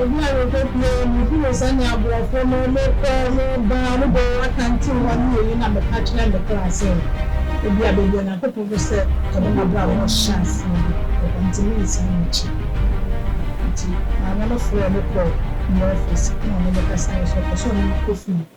Ebi a mekopue yi mehunu sɛnea aborɔfo no mekɔ meba no bɔ akantew hɔ ne eyi na meka kyerɛ me kra sɛ ebi a baabi a Nyankopɔn pɛ sɛ ɔde m'abrabɔ hyɛ aseɛ no ɛhɔ nti merensan m'akyi. Nti maame no frɛɛ me kɔɔ ne office ɛna ɔne me kasaeɛ so ɔpɛ sɛ ɔne me kɔ fie.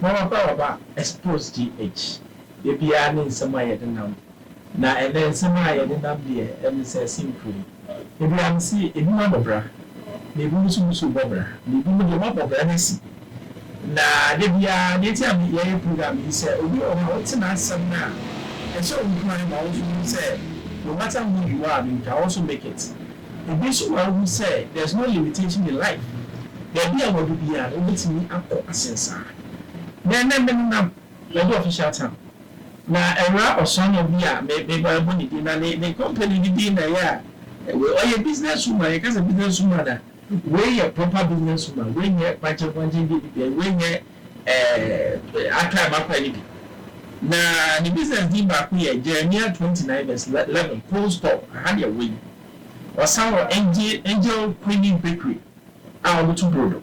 Mama Bawaba expose GH. Da biara ne nsɛm a yɛde nam Na ɛnnɛ nsɛm a yɛde nam deɛ ɛne sɛ simpire yi. Ebi ano se ebi ma bɔ bra, na ebi nso gu so bɔ bra, na ebi mo deɛ ɔma bɔ bra no asi. Na da biara deɛ nti a me yɛyɛ program yi sɛ obi wɔ hɔ a wote n'asɛm no a ɛhyɛ wo nkuran ma wo nso wohu sɛ no matter who you are no you can also make it. Ebi nso ma wohu sɛ there's no limitation in life, baabi a wadu biara no wobɛtumi akɔ asen saa. Na ɛnnɛ me nenam baabi official town. Na ɛwura Ɔsɔnɔ bi a me me ba bɔ ne din na ne ne company ne din na ɛyɛ a wei ɔyɛ business woman yɛka sɛ business woman a wei yɛ proper business woman wei nyɛ kwankyen kwankyen deɛ bi deɛ wei nyɛ ɛɛ atrae matrae no bi na ne business din baako yɛ Jeremia twenty nine verse eleven cold store aha deɛ wei ɔsan wɔ angel angel queenie bakery a wɔto brodo.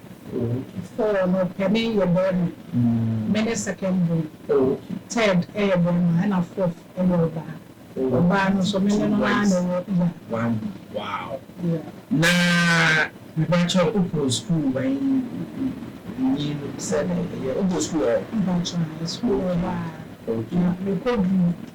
Oh no panin yɛ barima me ne second born third yɛ barima ɛna fourth yɛ ɔbaa ɔbaa no nso me ne no ara na ɛwɔ ya. Wow na mepakyɛ wokɔ school bɛn nyi no sɛnɛ ɛyɛ wokɔ school wɔ hɔ? Mepakyɛ school wɔ hɔ a na mekɔ duru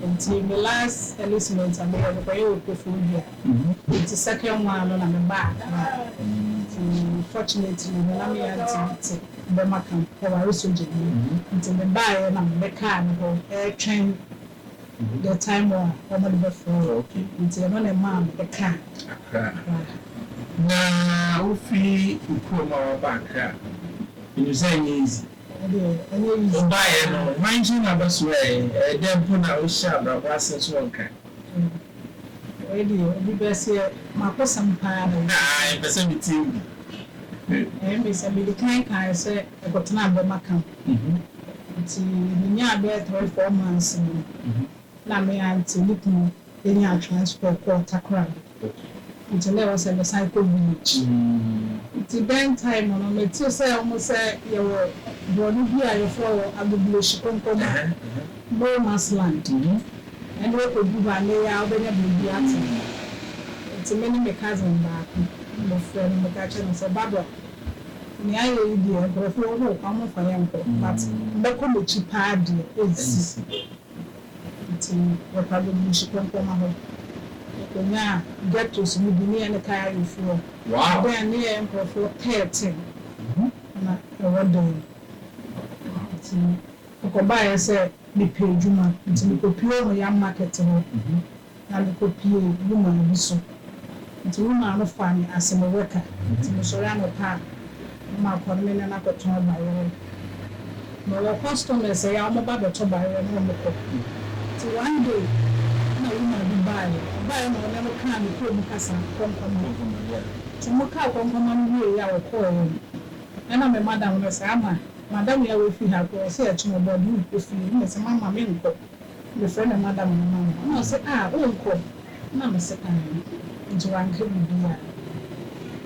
Nti me last enlistment a meyɛ mekɔyɛ wɔ Koforidua nti second one no na mebaa Accra nti fortunately no na me aunty bi te Bɛmaka ɔware sogyani nti mebaeɛ na mebɛkaa no hɔ retwɛn the time a wɔde bɛfrɛ yɛn nti ɛno na ɛmaa mede kaa Accra. Na wofiri wo kurom a waba Accra menim sɛ ɛnyɛ easy. Wobaeɛ no, hwan nkyɛn na bɛsoɛɛ? Ɛyɛ dɛn mpo na wohyɛɛ abrabɔ ase so wɔ nkran? Wei deɛ, obi bɛseɛ, m'akosɛm paa na wei. Aa, yɛpɛ sɛ metie wo bi. Ɛyɛ me sɛ mede kan kaeɛ sɛ yɛkɔtenaa bɛma camp. Nti menyaa bɛyɛ three, four months no, na me auntie ne kunu Yenya transport kɔɔ Takoradi ntsi na ɔwɔ sɛ mesan kɔ village ntsi dɛn time no metse sɛ ɔmo sɛ yɛwɔ borɔno bi a yɛfrɛ wɔ Agbobulohyi Konkomma no mass land ɛno ekodu hɔ a na eya wobenya beebi atse ntsi me ne me cousin baako mofrɛ no meka kyerɛ no sɛ Barbara nea ayɛ yi deɛ nkorɔfo wɔ hɔ o fa ɔmo mfa yɛnkɔ but mɛkɔ m'akyi paa deɛ ensi. Ntsi wɔtaa bobu nsu pɔmpɔma hɔ. Wokonyaa ghettos no bi, ne yɛ ne Kayarifoɔ. Ebɛn ne yɛ nkorɔfoɔ thirteen na ɛwɔ dɛm. Ntsi mekɔbaeɛ sɛ mepɛ edwuma, ntsi mekɔpue wɔ yɛn market hɔ. Na mekopiee wo maa bi so. Nti me maa no faa me ase me wɛka. Nti mesɔre anɔpa a, na makɔ ne me nana akɔtɔn bayerɛ. Mewɔ customers a wɔn ba bɛtɔ bayerɛ na wɔn kɔ. Nti one day na woman bi baeɛ, ɔbaeɛ na ɔne no kaa ne kurom kasa, Kɔnkɔma. Nti wɔn kaa Kɔnkɔma no wieeɛ a wɔkɔeɛ no, ɛna me madam no se, Ama, madam yi a wafiri ha koraa ɔse ɛkye no ɔbɔɔ de wokɔ fie. Ɛna mese, Mama menkɔ. Mefrɛ no Madam no ma no, na ɔse ah wonkɔ? na mese aane, nti wanka biribiaa.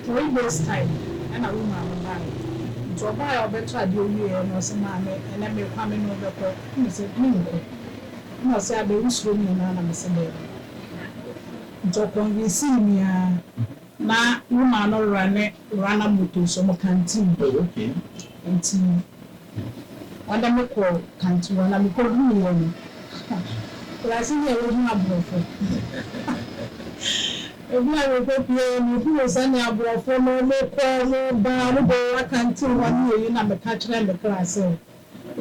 Three days time ɛna wo maame baeɛ, nti ɔbaeɛ a ɔbɛtɔ adeɛ wieɛ na ɔse maame ɛnɛ mekɔ a mene wo bɛkɔ, na mese menkɔ, na ɔse abɛn wosuro me anaa, na mese daabi, nti ɔconvinsii me aa, na wo maa no rane runner moto nso ɔmo kanteen, nti Ɔde me kɔɔ Kantua na mekoduuiɛ no, akurase ne ɛwɔ mu aborɔfo. Ebi a mekopuee mehunuu sɛnea aborɔfo no mokɔ moba no bɔ wɔn akantew hɔ ne eyi na meka kyerɛɛ me kra sɛ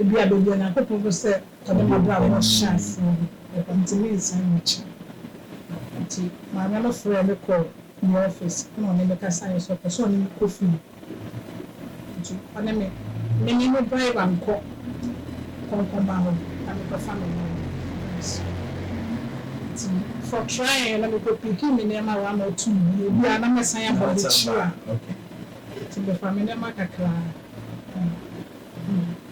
ebi a baabi a Onyankopɔn pɛ sɛ ɔde m'abrabɔ hyɛ aseɛ no ɛhɔ nti merensan m'akyi. Nti maame no frɛɛ me kɔɔ ne ɔfis na ɔne me kasaeɛ sɛ ɔpɛ sɛ ɔne me kɔ fie. Nti ɔne me me ne no bae ba nkɔ kɔnkɔnba hɔ na me kɔfa me nneɛma bɛba so. Nti for trying no me kɔ picki me nneɛma one or two bi ebi a na mɛ san abɔ adekyire a nti me fa me nneɛma kakra na me ba.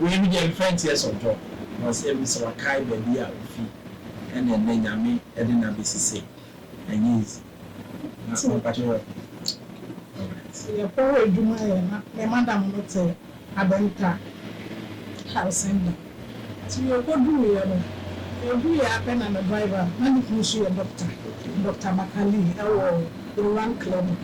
Wei no deɛ mfa nti ɛsɔntɔ na sɛ ebi sɛ wakae baabi a ofi ɛna ɛnɛ Nyame ɛde no abɛsi sei ɛnyɛ easy na mpakyɛ yɛ alright. Yɛkɔ hɔ adwuma yɛ na me madam no te Abenta Harsenda nti yɛkɔduruiɛ no yɛduruiɛ ara pɛ na me driver na ne kunu nso yɛ doctor, Doctor Bakali ɛwɔ Iran clinic.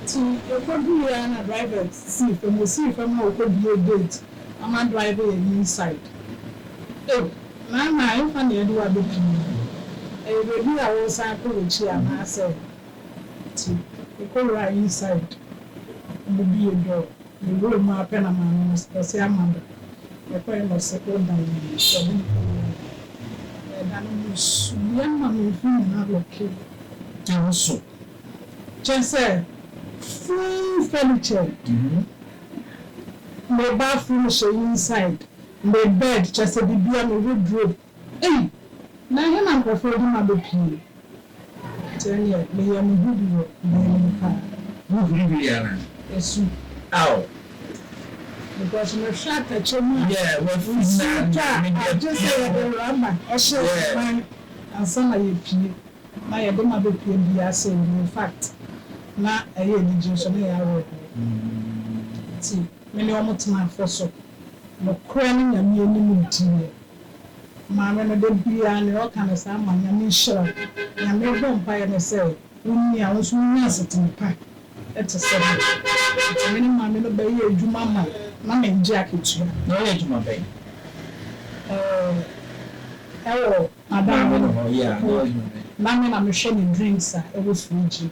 So yɛkɔduruiɛ ara na driver sii fam, ɔsii fam a ɔkɔbuee gate ama driver yɛn inside. Ei, Nana ɛmfa na yɛde wo abɛpie yi, ɛyɛ baabi a woresan kɔ w'akyi anaasɛ? Nti yɛkɔwuraa inside, yɛbuee door, yɛwuraa mu ara pɛ na maame no ɔse ama da, yɛkɔeɛ na ɔse wodan no mu, so ɔde me kɔwuraa mu hɔ, yɛredane mu no, suiɛ ma me mfiri nyinaa lɔkee. Nanso Kyerɛ sɛ, full furnitured, me bathroom hyɛ inside, me bed, kyerɛ sɛ biribiara, me wardrobe, ei, na ɛhe na nkurɔfoɔ de ma bɛpue? Nti ɛnneɛ, meyɛɛ me ho bi wɔ dan no mu paa. Wohuri wieeɛ anaa? Ɛsu. Ao! Because mehwɛ atɛkyɛ mu a, nsuo tɔ a, agye sɛ yɛde rubber hyɛ yɛn nan ansa na yɛapue. Na yɛde ma bepue biara sɛ ɔnni mu. In fact, na ɛyɛ anigye nso, na ɛyɛ awerɛhoɔ. Enti me ne wɔn tenaa fo so. Nokorɛ ne Nyame anim diiɛ. Maame no da biara nea ɔka ne saa ma Nyame nhyira wo. Nyame rebɔ mpaeɛ ne sɛ wo nyin a wo nso wo nya asetena pa te sɛ no. Enti me ne maame no bɛyɛ adwuma ma na mengye akatua. Na woyɛ adwuma bɛn? Ɛɛ, ɛwɔ Aber a wɔnye hɔn yɛ a, nna ɔyɛ hɔn dɛn? Nna me na mehwɛ ne drinks a ɛwɔ fridge mu.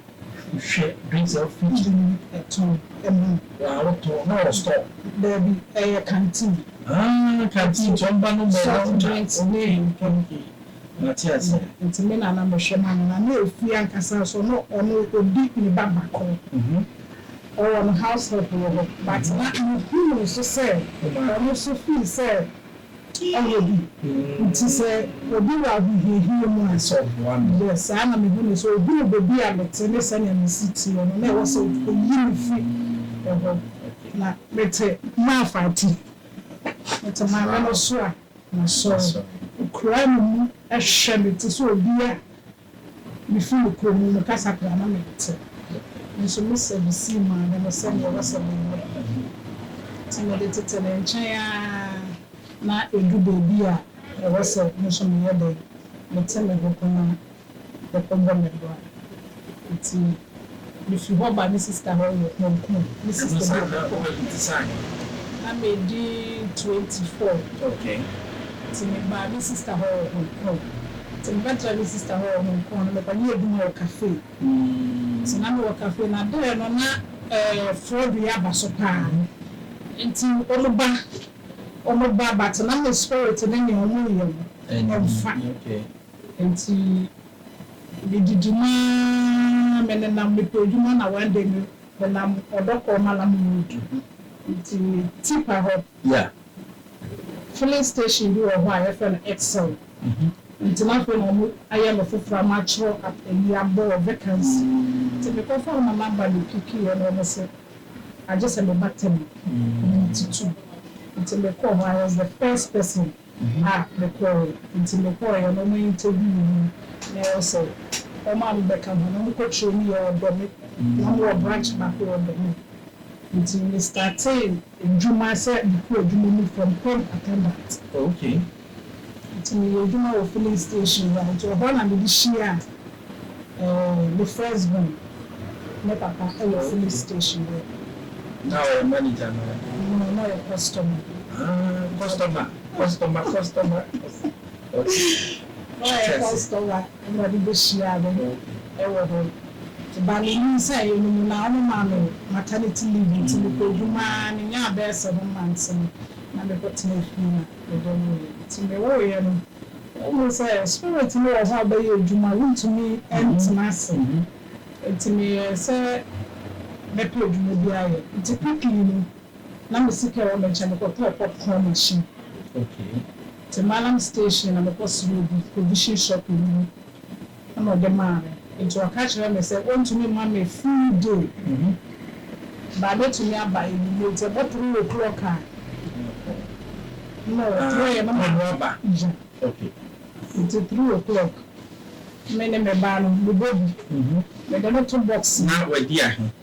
Wohwɛ drinks a ɛwɔ fridge mu? Ɛtɔn ma no. Aa wɔtɔn na wɔ store? Daabi, ɛyɛ canteen. Aa canteen nti ɔmba no mbɔ hɔ na okay okay mate ase. Nti me na na mehwɛ ma no na na efie ankasa nso no ɔno odi ne ba bakor. Ɔwɔ no house help wɔ hɔ but na muhu no nso sɛ ɔno nso feel sɛ Ɛyɛ bi nti sɛ obi wɔ ahohiahia mu a, sɛ ɔboa no, yɛ saa na mehu no sɛ ohunu baabi a mete ne sɛnea me si teɛ no, na ɛwɔ sɛ oyi me fi hɔ. Na mete Marfa ati, mete Maame no so a, masɔre. Okura me mu hwɛ me te sɛ obi a Mifi me kuro mu, me kasa koraa na mente, nso me sɛ mesii maame no sɛnea ɛwɔ sɛ menyɛ. Nti mede tete ne nkyɛn ara na edu baabi a ɛwɔ sɛ me nso meyɛ dɛn, mete me ho komaa, ɛkɔm bɔ me bra. Nti Mifi hɔ ba me sista hɔ wɔ Kwaku, me sista bi wɔ Kwaku. Na madi twenty four nti me baa me sista hɔ wɔ Hong Kong nti me bɛ tra me sista hɔ wɔ Hong Kong no me kɔ nyɛ adwuma wɔ cafe nti na me wɔ cafe na dɛɛ no na ɛɛ fraud yɛ aba so paa nti ɔmo ba ɔmo ba but na me spirit no nyɛ ɔmo nyɛ ɔmo nfa. Enti mididi mu ara, menenam mepɛ adwuma na one day me menam ɔdɔ kɔɔ Malam road nti me tipa hɔ filling station bi wɔ hɔ a yɛfrɛ no Excel nti na afei na ɔmo ayɛ no foforɔ ama akyerɛ ap ayi abɔ wɔ vacancy nti mekɔ fa ɔmo number me picki yɛ na ɔmo se agye sɛ meba tɛm nti tu nti mekɔɔ hɔ I was the first person. Na mekɔɔe. Ntsi mokɔɔe na ɔmaa enyigye guu mo mu, na ɔyɛ sɛ ɔmaa me bɛka ho, na mokɔkyerɛɛ mu yɛ ɔdɔ me, na mowɔ branch baako wɔ ɔdɔ me. Ntsi me startee edwuma sɛ mekɔ edwuma mu from pump attendant. Okay. Ntsi meyɛ edwuma wɔ filling station hɔ a, ntsi ɔhɔ na medze hyiaa. Ɔɔ me first born ne papa yɛ filling station hɔ adwuma. Na ɔyɛ manager anaa dɛn? No na ɔyɛ customer. Aah customer customer customer okay. Na ɔyɛ customer ɛna ɔde bɛ hyiaa me ɛwɔ hɔ nti ba ne nyin sɛ yɛ no mu na ɔmo maa me maternity leave nti me kɔ adwuma aa me nyaa bɛɛ seven months no na me kɔ tenaa fie na me dɔ no yɛ nti me woo yɛ no. Wohu sɛ Spirit no wɔ hɔ a bɛyɛ adwuma, wontumi ntena ase. Nti meyɛɛ sɛ mɛpɛ adwuma bi ayɛ. Nti pipii no, na me sika ɛwɔ me nkyɛn, mekɔtɔɔ popcorn machine. Nti Mallam station na mekɔserɛɛ bi, provision shop no mu. Ɛnna ɔde maa me. Enti ɔka kyerɛɛ me sɛ ɔrentumi mma me full day, but mɛtumi aba anwummerɛ. Nti ɛbɔ three o'clock a, na ɔfrɛ yɛn na ɔma no aba. Nti three o'clock, me ne me ba no, mebɔ bi. Mede no to box mu. Na wadi ahe?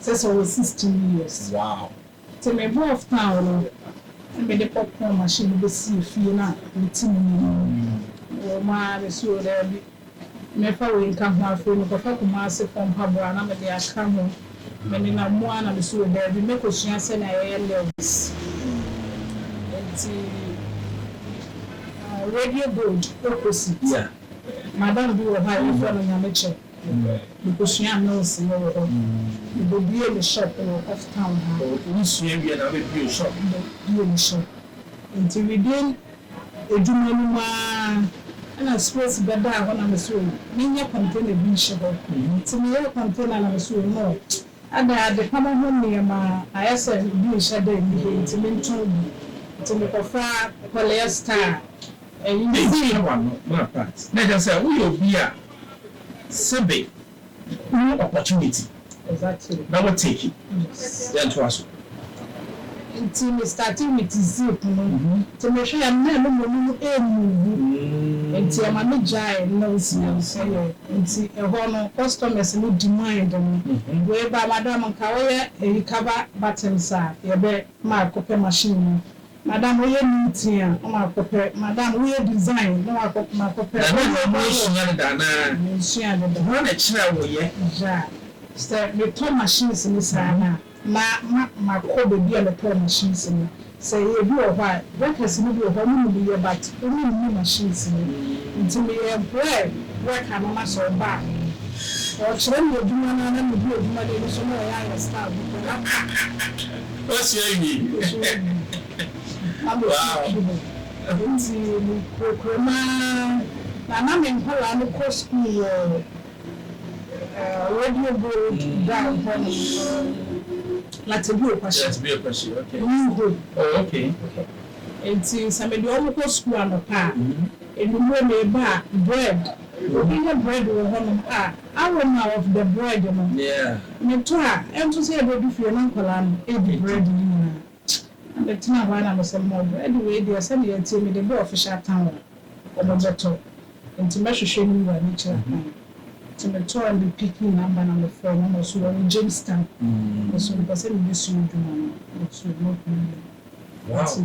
Sɛ sɛ ɔwɔ sixteen years. Wow. Nti me bɔɔ ftaa no na me de popcorn machine no bɛ sii fie na me te mu nom. Wɔ mu aa me se oo daabi me fa wei nka ho afei me kɔfa Kumasi foɔ mpaboa na me de aka ho. Me nenam mu aa na me se oo daabi me kɔ sua sɛnea yɛ yɛ nails. Nti radio gold opposite madam bi wɔ hɔ a yɛ frɛ no Nyamekyɛ. Mekosua nurse no wɔ hɔ. Mebebue me shop wɔ off town ha. Oh wo sua wie na wabɛbue wo shop? Mebebue me shop. Nti within adwuma no mu aa ɛna space bɛdaa hɔ na mese oh menyɛ container bi nhyɛ hɔ. Nti meyɛɛ container na mese oh no adɛn adepama ho nneɛma ayɛ sɛ bi nhyɛ da nni hɔ nti mentɔn bi. Nti mekɔfa polyester a ɛyɛ. Ɛnkyerɛ w'ano ma part. Na kyerɛ sɛ woyɛ obi a Sɛbe wo hu opportunity na wo take yɛn toa so. Nti me starte with zip no nti me hwɛ a mmerɛ no moni no ɛɛmuvu nti ɛma me gyae nails no yɛ nti ɛhɔ no customers no demand no wei ba madam nka wo yɛ ɛyi cover buttons a yɛbɛ ma akɔpɛ machine no. Madam wo yɛ new teen a na makɔ pɛ madam wo yɛ design na wakɔ makɔ pɛ. Nana nnuro mu nsua deda anaa? Mensua deda. Hwan na ɛkyerɛɛ wo yɛ? Yea sɛ metɔ machines no saa no a na ma makɔ baabi a mɛtɔɔ machines no sɛ ɛyɛ ebi wɔ hɔ a workers no bi wɔ hɔ a ɔmo nim yɛ but ɔmo nni machines no nti meyɛ employ worker no na sɛ ɔba a ɔkyerɛ me adwuma no a na medi adwuma no ani so na ɔyɛ ayɛ style bi pɛ na Wasua awie wow. Enti mekurakura mu ara na na me nkwadaa no kɔ sukuu wɔ Radio Gold Dam hɔ nom, Latebio Kwashior, Latebio Kwashior, okay, New Hope, oh okay, enti sɛ mede wɔn kɔ sukuu anɔpa a, anwummere meba a bread, obi nya bread wɔ hɔ nom a. Aroma of the bread no me tɔ a ɛnto sɛ yɛbɛdu fie na nkwadaa no ɛdi bread no nyinaa na me tena hɔ a na me sɛ mom bread wei deɛ sɛdeɛ ɛteɛ me de bɔ official town a wɔn bɛ tɔ nti mɛ hwehwɛ ne wura ne kyerɛ kwan nti me tɔ a me picking number na me frɛ no na ɔso ɔwɔ Jamestown me so me pɛ sɛ me bɛ sua adwuma no me so no problem nti.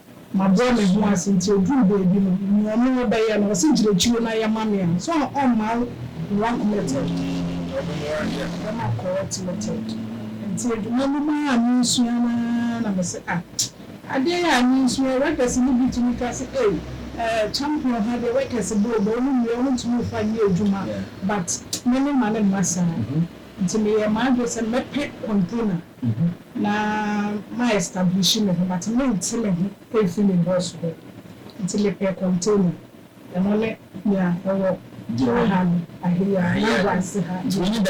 Mabrɛ me ho ase nti oduru baabi no nea ɔno ɔbɛyɛ no ɔse gyina akyire na yɛ ma me a so a ɔmma wo wrong method yɛ ma correct method nti adwuma no mu a mensua no ara na mese ah adeɛ yi a mensua yi workers no bi tumi ka se ei eh champion ha deɛ workers bɔ obo ɔmo nnua ɔmo ntumi mfa nyɛ adwuma but me me mma no mma saa nti meyɛɛ m'adwene sɛ mɛpɛ container. Na ma establishi me ho but mente me ho mfi me boss hɔ nti me pɛ container ɛno ne nea ɛwɔ aha no Ahiya Anambransi ha no ɛno na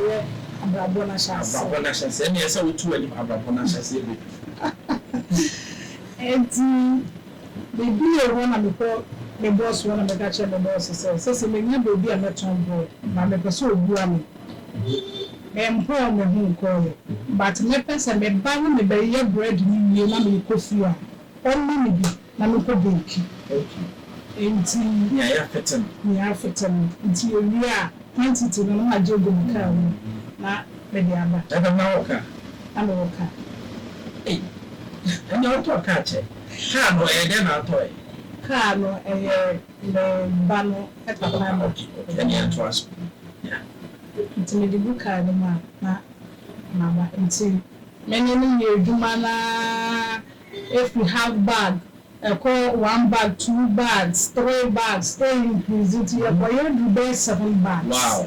ɛyɛ abrabɔ no ahyɛaseɛ Enti me bie hɔ na me kɔ me boss hɔ na me ka kyerɛ me boss sɛ sɛsɛ menya baabi a mɛtɔn bread but me pɛ sɛ obua me. Me mpɔɔ me ho nkɔɔɛ but me pɛ sɛ me ba ne me bɛ yɛ bread no wie na me kɔ fie a ɔmma me bi na me kɔ bake nti nea yɛ afete no nea afete no nti yɛ wie a quantity no na ma gye agu me car mu na me de aba. Ɛna na wɔ car? Na me wɔ car. Ei ɛnea ɔtɔɔ car kyɛ car no ɛyɛ dɛn na atɔɔɛ? Car no ɛyɛ. Ne ba no papa no hwɛ nea ɛtoa so. Nti mede bu kaa no mu a, na maba. Nti me ne no yɛ adwuma no ara firi half bag kɔ one bag, two bags, three bags, ɛɛ increase nti yɛkɔyɛ aduru bɛyɛ seven bags.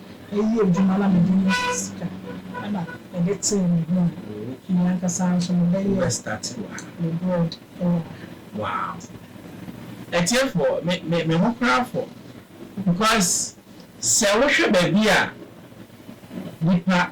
Eyi yɛ dwuma na mede nya sika na mede tee me ho a, me ankasa nso mebɛyɛ me board wɔ ha. Wow. Atiefoɔ, me, me, me ho koraa fɔ because sɛ wohwɛ baabi a nipa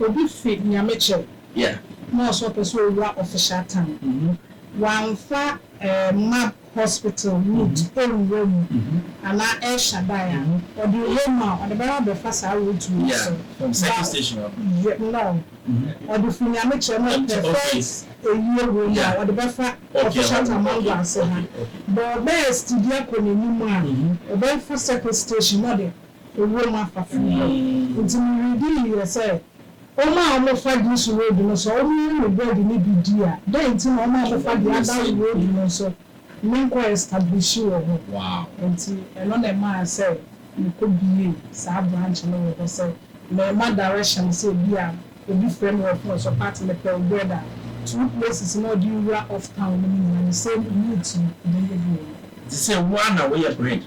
Obi fi Nyamekyɛw na ɔsɛ ɔpɛ sɛ owura Official Town, wamfa Mab Hospital route anwura mu anaa El Shaddai a, ɔde wura mu a, ɔde bɛyɛ abɛfa saa route wei so. No, ɔde fi Nyamekyɛw na Perfect Ayie wɔ mu a, ɔde bɛfa Official Town Mango Ase ha. But ɔbɛyɛ steady akɔ n'anim a, ɔbɛfa Circle Station na ɔde. ewuram afaforo bɔ. Enti me weredi yiye sɛ wɔn a wɔfa Diisu Road no, sɛ wɔyɛ me bread no bi di a, dɛn nti na wɔn a wɔfa deɛ Adare Road no nso menkɔ establishi wɔ hɔ? Enti ɛno na ɛmaa sɛ mekɔ biee saa branch no wɔ hɔ sɛ merema direction sɛ ebi a obi frɛ me wɔ phone so Pat mepɛ wo bread a, two places no a ɔde wura off town no mu nyinaa the same route no, ɔbɛyɛ bi wɔ hɔ. Te sɛ wo ara na woyɛ bread no.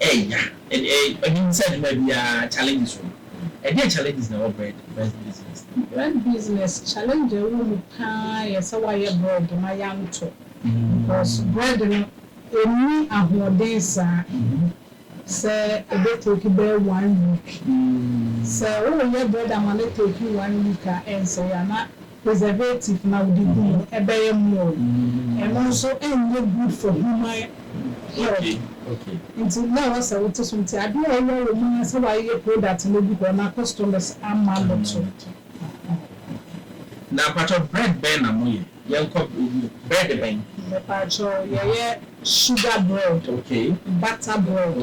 Ɛya ɛɛ ɛno sɛ adwuma biara challenges wɔ mu. Ɛdeɛn challenges na ɛwɔ bread bread business no mu? Bread business challenge a ɛwɔ mu paa yɛ sɛ wayɛ bread ma yɛantɔ because bread no ɛnni ahoɔden saa sɛ ɛbɛ take bɛyɛ one week. Sɛ woreyɛ bread ama no take one week a ɛnsɛe anaa preservative na wode gu mu ɛbɛyɛ more ɛno nso ɛnyɛ good for human health nti na ɛwɔ sɛ wote so nti adeɛ a ɛwɔ wɔ mu ara sɛ wayeyɛ product no agu hɔ na customers ama no to. Na mpakyɛw bread bɛn na mo yɛ? Yɛnkɔ bread bɛn? Mepakyɛw yɛyɛ sugar bread, butter bread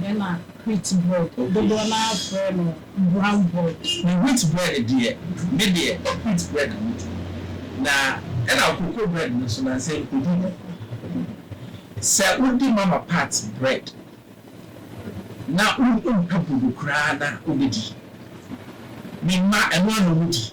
ɛna wheat bread dodoɔ no ara frɛ no. Brown bread. Ne wheat bread deɛ, me deɛ wheat bread na me di. Na ɛna cocoa bread no nso nansɛ nkɔdi no. Sɛ wo di mama pat bread na wo mpɛ bodo koraa na wo bɛ di. Me mma ɛno ara na ɔmo di.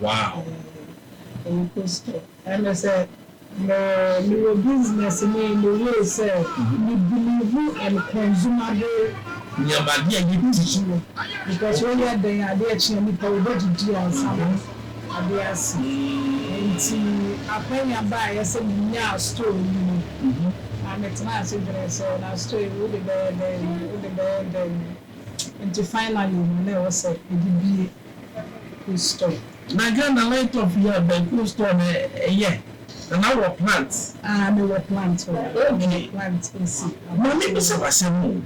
Wow! Eyi kɔ soro. Ɛne sɛ, me, mewɔ business mu yi, me wee sɛ, me bu me ho and consumable. Nneɛma, adeɛ a yɛdi. Nsuo. Because wo yɛ dɛn a, adeɛ kye a, nipa wo bɛ didi ansa na adeɛ ase. Nti, akwanya baeɛ sɛ me nyaa store yi no, na me tenaa ase dwenee sɛ, na store yi wo de bɛyɛ dɛn, wo de bɛyɛ dɛn. Nti finally no, na ɛwɔ sɛ me de bue. Cool store. Na Ghana Lintop yɛ bɛn cool store na ɛyɛ na na wɔ plant. Aa me wɔ plant hɔ ok me wɔ plant esi abɔnten. Ma me bisa wo asɛm o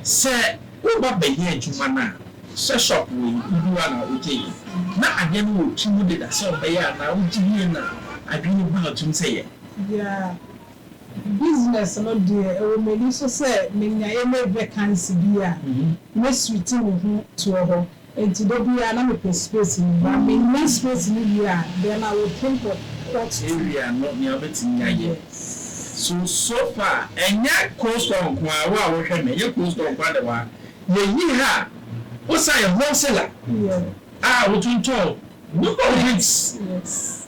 sɛ wo ba bɛ yɛ adwuma no a sɛ shop wei wo bi wa na wo gye yɛ na adeɛ no wɔ tiri mu deda sɛ ɔbɛ yɛ anaa wo gye wie na adwene ba wo tirim sɛ yɛ. Yeah business no deɛ ɛwɔ m'ani so sɛ me nya yɛ me vacancy bi a mɛ switch me ho toɔ hɔ. Enti da biara na mepɛ space no, but minnya space no wie a, then I will think of what to. Area no nea wobɛtumi ayɛ. So, so far, ɛnyɛ cold store nko ara, wo a wohwɛ me, ɛnyɛ cold store nko ara na ɛwɔ ha. Yɛyi ha a, wosan yɛ wholesaler a wotontɔn nnuane. Yes, yes.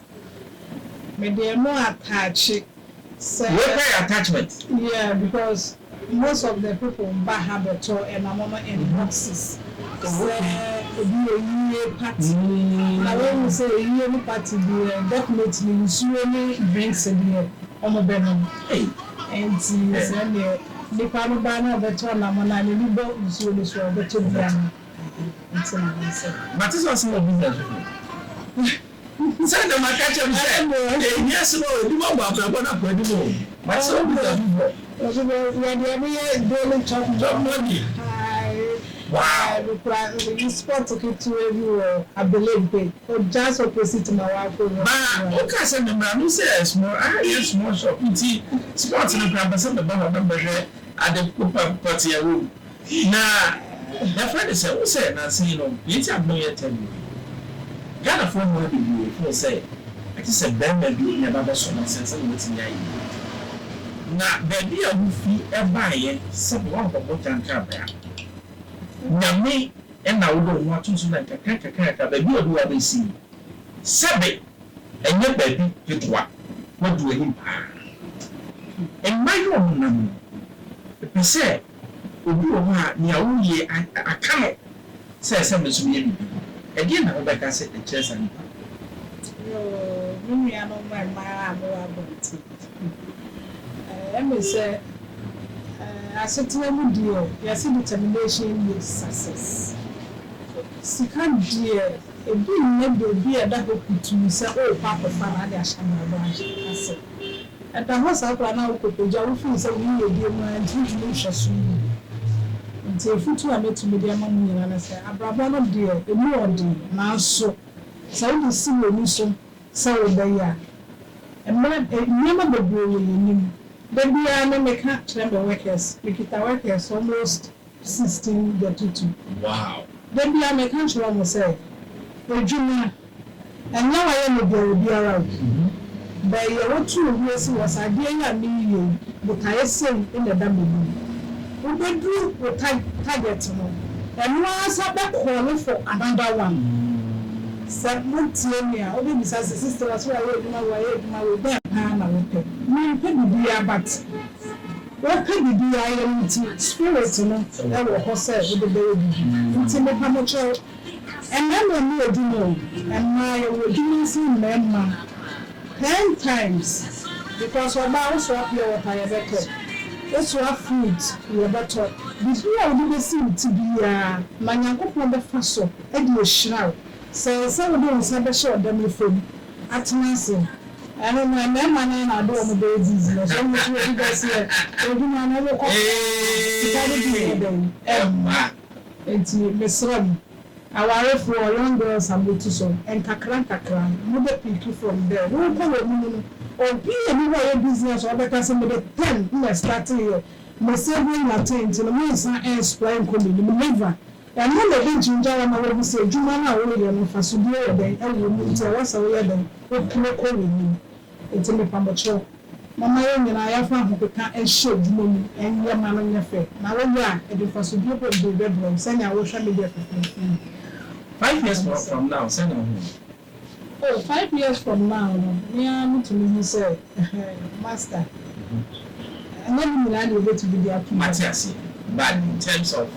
Mede ɛno ataakye. Sɛ. Wei koraa yɛ attachment. Yeah because most of the people ba ha bɛtɔ ɛnamo no in boxes sɛ ebi yɛ yie party na wohu sɛ yie no party deɛ definitely nsuo ne drinks deɛ wɔn bɛnom nti sɛ neɛ nipa no ba na ɔbɛtɔ ɛnamo no a n'ani bɔ nsuo no so a ɔbɛtɔ bi anom nti na mesɛ. Mate sɛ ɔsan wɔ business foforɔ. Sɛ na maka akyerɛ mo sɛ, ɛnhia sɛ ma obi bɔ mo abrabɔ no akoa anim o, mate sɛ mobisa me bɔ. Ma woka sɛ memmra no sɛ small, aha yɛ small shop nti spot no koraa mpɛ sɛ meba hɔ na mɛhwɛ ade pɔtee a ɛwɔ mu. Na yɛfrɛ no sɛ wo sɛ nansa yi no deɛ nti a hoo yɛ ntɛm no bi Ghanafoɔ mmaa bebree hoo sɛ ɛte sɛ barima bi na ɛba bɛsɔ n'ase ansa na watumi ayɛ deɛ ɔpɛ na baabi a wofi baeɛ sɛbe woankɔbɔ gya nkrabea Nyame na wode wo ho atom so na nkakra nkakra nkakra baabi a ɔde wo abɛsi yi sɛbe ɛnyɛ baabi ketewa woadu anim paa Mma yɛ ɔmo nam no mepɛ sɛ Obi wɔ hɔ a, nea woyɛ aka no sɛ sɛ me nso meyɛ biribi. Ɛdeɛn na wobɛka sɛ ɛkyerɛ saa nipa no? Yoo, me nuanom mmaa a mowɔ abɔnten. Ɛyɛ me sɛ asetena mu deɛ, yɛse determination yields success. Sika deɛ, ebi nnyɛ biribi a ɛda hɔ puturu sɛ worekɔ akɔfa anaa wode ahyɛ abrabɔ ase. Ɛda hɔ saa koraa na wokɔpagya wo fii sɛ wo yiyedie mu ara nti wontumi nhwɛ som mu. Enti afotuo a mɛtumi de ama mo nyinaa ne sɛ, abrabɔ no deɛ ɛmu yɛ ɔden nanso sɛ wode si w'ani so sɛ wobɛyɛ a, mmerɛ, nneɛma bebree wɔ yɛn anim. Da biara me meka kyerɛ me workers, mekita workers almost. 16 bɛtoto. Wow! Da biara meka kyerɛ wɔn sɛ, Adwuma, ɛnyɛ wayɛ no biara biara o. Bɛn yɛ wotu wo ho si hɔ sɛ adeɛ yi a mereyɛ yi, botaeɛ sei na ɛda m'anim. Wobɛduru wo target no, ɛno ara sa bɛ call for another one. Sɛ motie me a, wobɛbisa sɛ, Sister, wase wayɛ adwuma wei, wayɛ adwuma wei, dɛn paa na wopɛ? Mempɛ biribiara but. Wopɛ biribi a ayɛ no nti, Spirit no wɔ hɔ sɛ wode bɛyɛ biribi. Nti mepa mo kyɛw, mmarima mu adwuma o, mmaa yɛwɔ adwuma nsen mmarima ten times because ɔbaa wosoa pure water yɛbɛtɔ, wosoa food yɛbɛtɔ, biribi a wode bɛsi wo ti biara na Nyankopɔn bɛfa so de ahyira wo. Sɛ ɛsɛ sɛ wode wo nsa bɛhyɛ ɔdam fam atena ase. Ɛno no mmarima no ara na ade a wɔbɛyɛ business, wɔn nso wɔdi dɔteɛ, adwuma no wɔkɔ koraa sika no bi nyɛ dɛn ɛmma. Enti mesrɛ mo awarefoɔ, young girls a moatu so, nkakra nkakra no mobɛ pick from there, worekɔ wɔ mu no no obi nni hɔ a ɔyɛ business a ɔbɛka sɛ mede ten na ɛstarteeɛ, me saving na ten nti no mensan ɛnspoil nkɔ m'anim, never. Ɛno na ebegye obi ara ma wahu sɛ adwuma no a woreyɛ no, mfaso bi wɔ dɛn wɔ mu nti ɛwɔ sɛ woyɛ dɛn? Wopene kɔ w'anim. Enti mepa mo kyɛw, momma yɛn nyinaa yɛmfa ahopeka nhyɛ adwuma mu nyɛ ma no nyɛ fɛ, na woyɛ a, ɛde mfaso bi bom de rebɛbrɛ wo, sɛnea wohwɛ me deɛ fɛfɛɛfɛ yi. Five years from now sɛn na wohu no? Oh, five years from now no, me ara metumi hu sɛ, Master, ɛnyɛ ne nyinaa na yɛbɛtumi de ato dwa. Mate aseɛ. But in terms of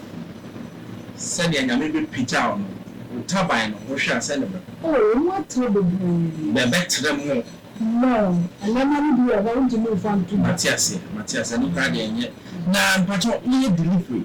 sɛdeɛ Nyame bɛpagya wo no, wo taban no, wohwɛ a sɛn na ɛbɛkɔ? Oh, emu atrɛ bebree. Na ɛbɛtrɛ more. More. Nneɛma no bi wɔ hɔ a, wontumi mfa nto dwa. Mate aseɛ, mate aseɛ. Ɛno koraa deɛ ɛnyɛ. Na mpakyɛw, woyɛ delivery?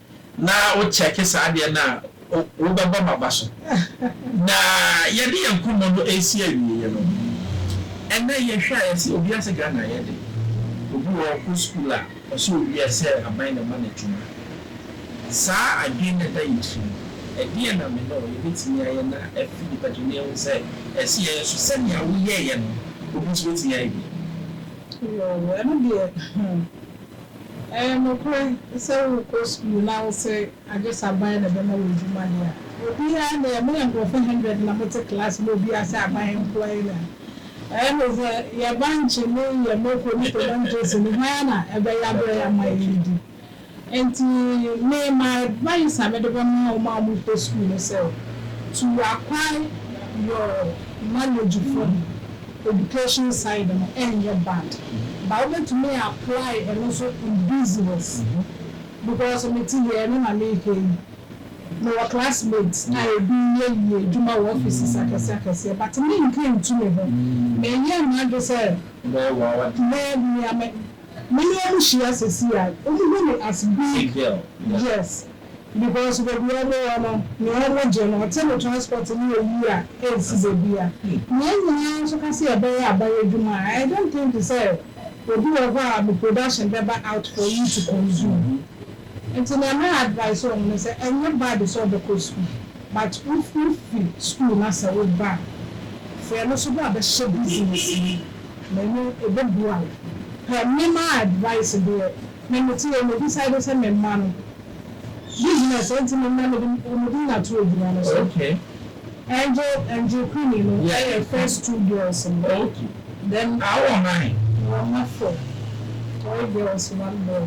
na wo check saa adeɛ no a wo bɛbɔ ma ba so na yɛde yɛn nkɔmmɔ no ɛresi awieɛ no ɛnɛ yɛ hwɛ a yɛse obia se Ghana ayɛ den obi wɔ hɔ ɔkɔ school a ɔse owia sɛ aban na ɛma no adwuma saa adwene no ɛda yɛ tiri mu ɛdeɛn na me ne wo yɛbɛtumi ayɛ na afi nipa tiri mu na yɛhu sɛ ɛse yɛyɛ so sɛnea wo yɛeɛ no obi nso bɛtumi ayɛ bi? Woow ɛno deɛ hmm. Ɛyɛ nokorɛ sɛ worekɔ sukuu na wose agyesaban na ɛbɛma wo adwuma deɛ a, obiara nnɛ moyɛ nkorɔfo hundred na mote class na obiara sɛ aban nkoa yi na ɛyɛ ne sɛ yɛ bankye ne yɛ mako ne tomantosi no hwan ara na ɛbɛyɛ abrɛ yɛ ama yɛadidi nti me my advice a mede bɛma wɔn a wɔrekɔ sukuu ne sɛ to acquire your knowledge from Education side no ɛnyɛ bad but wobɛtumi a apply ɛno nso in business because me te deɛ ɛno na meka yi mewɔ classmates a ɛbi yɛ yie adwuma wɔ offices akɛseɛ akɛseɛ but me nka ntu me ho me yɛ m'adwene sɛ mɛ nea me ne wɔn hyia sɛsi a wɔn hu me as big yes. Because baabi a ɔmo wɔ no nea ɔmo gye no ɔte no transport ne oyi a ɛnsi bebia na yɛn nyinaa nso ka sɛ yɛbɛyɛ aban adwuma a I don't think sɛ obi wɔ hɔ a ne production bɛba out for you to consume nti nea mɛ advice ɔmo ne sɛ ɛnyɛ bad sɛ ɔbɛkɔ school but wo fi school na sɛ wo ba a sɛ ɛno nso bɛ a bɛhyɛ business mu na ɛno ɛbɛboa wo pɛ me ma advice deɛ me mete yɛ me decide sɛ me mma no. Bi gyina sɛ nti no na mede wɔn din ato agyina no so. Angel Angel Queenie no yɛ first two girls no. Then awɔ nine. Wɔn mma four, three girls one boy.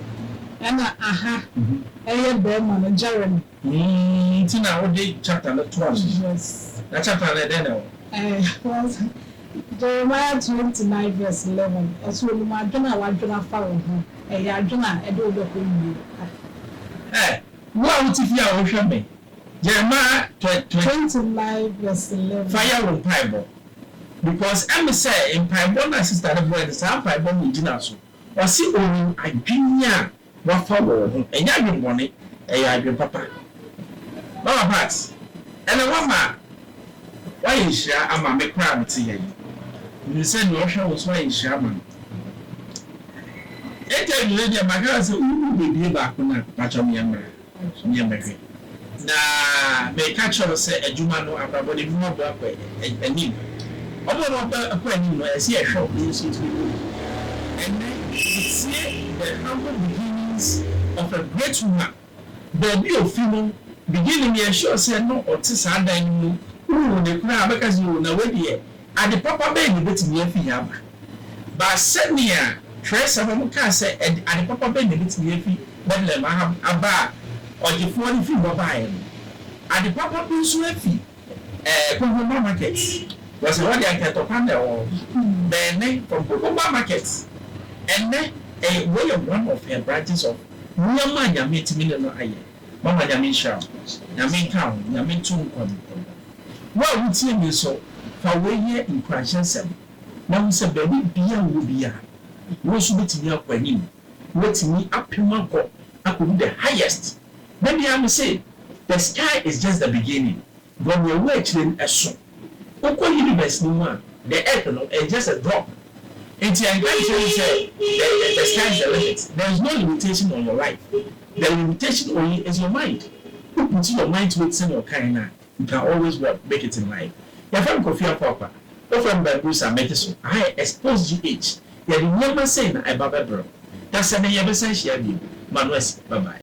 Ɛna aha yɛ barima no Jeremy. Nti na wode chapter no to aso. Yes. Na chapter no ɛdɛn na ɛwɔ. Ɛɛ wɔn Jeremiah twenty nine verse eleven, Ɛso onim adwene a wadwene afa wo ho, ɛyɛ adwene a ɛde wo bɛkɔ nwie pa. Ɛ, wo a wote fie a wohwɛ me, Jeremiah twenty. Twenty nine verse eleven. Fa yɛ wo mpaebɔ, because ɛme sɛ mpaebɔ no a sister no bɔe no, saa mpaebɔ no na ogyina so, ɔse onim adwene a Wɔafa wɔn ho. Ɛnyɛ adwemmɔne, ɛyɛ adwene papa. Mama Pat, ɛnna woama woayɛ nhyira ama me koraa a mete ha yi. Minim sɛ nea ɔhwɛ wo nso ayɛ nhyira ama no. Enti awiei deɛ, maka no sɛ, wobɛbue baako no a, pakyɛ meammra. nyɛ me hwɛ. Na meka kyerɛ wo sɛ adwuma no, abrabɔ no, ebi mu aboa kɔ anim. Wɔn a wɔakɔ anim no, ɛsɛ sɛ yɛhwɛ wɔn, yɛn nso yɛtumi kɔ anim. Ɛnnɛ, wotie the humble beginnings of a great woman, baabi a ofi no, beginning, yɛnsure sɛ na ɔte saa dan no mu, wohu no koraa a, wobɛka sɛ, oh, na wei deɛ, Ade papa bɛn na ebetumi afi ha aba? Ba sɛnea Twerɛnsɛm no kaa sɛ ɛde ade papa bɛn na ebetumi afi Betlehem ha aba a Ɔgyefoɔ no firi hɔ baeɛ no. Ade papa bi nso afi ɛɛ Kokoba Market, because ɛhɔ deɛ anka ɛtɔ kwan na ɛwɔ hɔ. Bɛn ne from Kokoba Market. Ɛnnɛ ɛyɛ wei yɛ one of her branches of nneɛma a Nyame atumi ne no ayɛ. Mama Nyame nhyira wo. Nyame nka wo ho. Nyame nto wo nkwa mu. Wo a wutie me nso, fa wei yɛ nkuranhyɛ nsɛm, na hu sɛ baabi biara a wowɔ biara, wo nso wubetumi akɔ anim, woatumi apem akɔ akodu the highest. Da biara mise, The sky is just the beginning, bɔ nea ɛwɔ akyire no ɛso. Wokɔ universe no mu a, the earth no, it's just a drop. Enti ɛnka nkyerɛ me sɛ, the, the, the sky is the limit. There is no limitation on your life, the limitation only is your mind. Wo put your mind to it sɛnea ɔkaeɛ no a, You can always what? Make it in life. Yɛfrɛ me Kofi Apoakwa, wofrɛ me Bambusa, mete so aha yɛ Exposed GH, yɛde nneɛma sei na ɛba bɛbrɛ wo. Dasani yɛbɛsan hyia bio, ma no asi, bye bye.